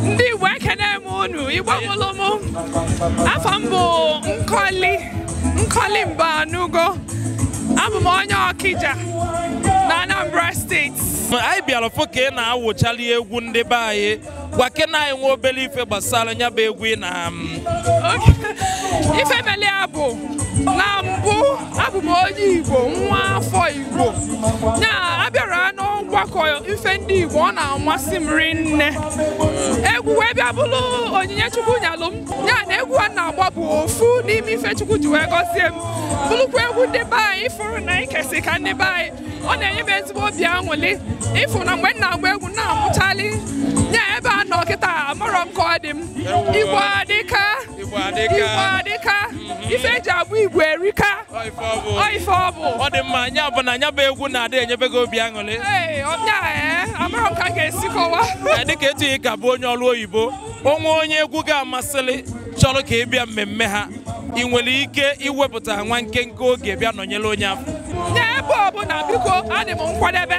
ndị Igbo ekene m unu Igbo mụrụ m afa m bụ Nkọli Nkọli Mbanugo abụ m onye Ọkija na Anambra steeti anyị bịara fụ ka ị na-awụchali egwu ndị be anyị gwakene anyị nwa obele ife gbasara nya bụ egwu ị na ife mele ya bụ na mbụ abụ m onye Igbo nwa afọ Igbo ya abịara n'ọgbakọ ife ndị Igbo ọ na-amasị m rinne egwu wee bịa bụrụ onyinye Chukwu nyelụ m ya na egwu a na-agba bụ ofu n'ime ife Chukwu ji wee gọzie m bụrụkwa egwu ndị be anyị ị fụrụ na ikesi ka ndị be anyị ọ na-enye m ezigbo obi aṅụlị ịfụ na mgbe m na-agba egwu na-amụchali ya ebe a nọ kịta amarọ m ka ọ dị m Igbo adịka Igbo adịka. Igbo adịka. Mhm. Ife eji abụ Igbo erika. Ọ ife ọ bụ. Ọ ife ọ bụ. Ọ dị mma nya bụ na nya bụ egwu na-adị enyebe gị obi aṅụrị. Ee, ọbịa ee, eh, amaghị m ka m ga-esi kọwa. Eh, dịka etu ị ka bụ onye ọrụ oyibo, o nwee onye egwu gị a masịrị chọrọ ka ị bịa mmemme ha. Ị nwere ike iwepụta nwa nkenke oge bịa nọnyere onye afụ. N'ebe ọ bụla biko adị m nkwadebe.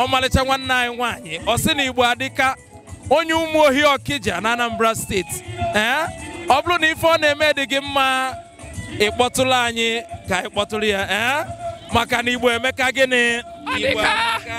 ọmalịcha nwanne anyị nwaanyị ọ sị na igbo adịka onye Ụmụohi Ọkija na anambra steeti ee ọ bụrụ na ife ọ na-eme dị gị mma ị kpọtụrụ anyị ka anyị kpọtụrụ ya ee maka na igbo emeka gịnị Igbo amaka.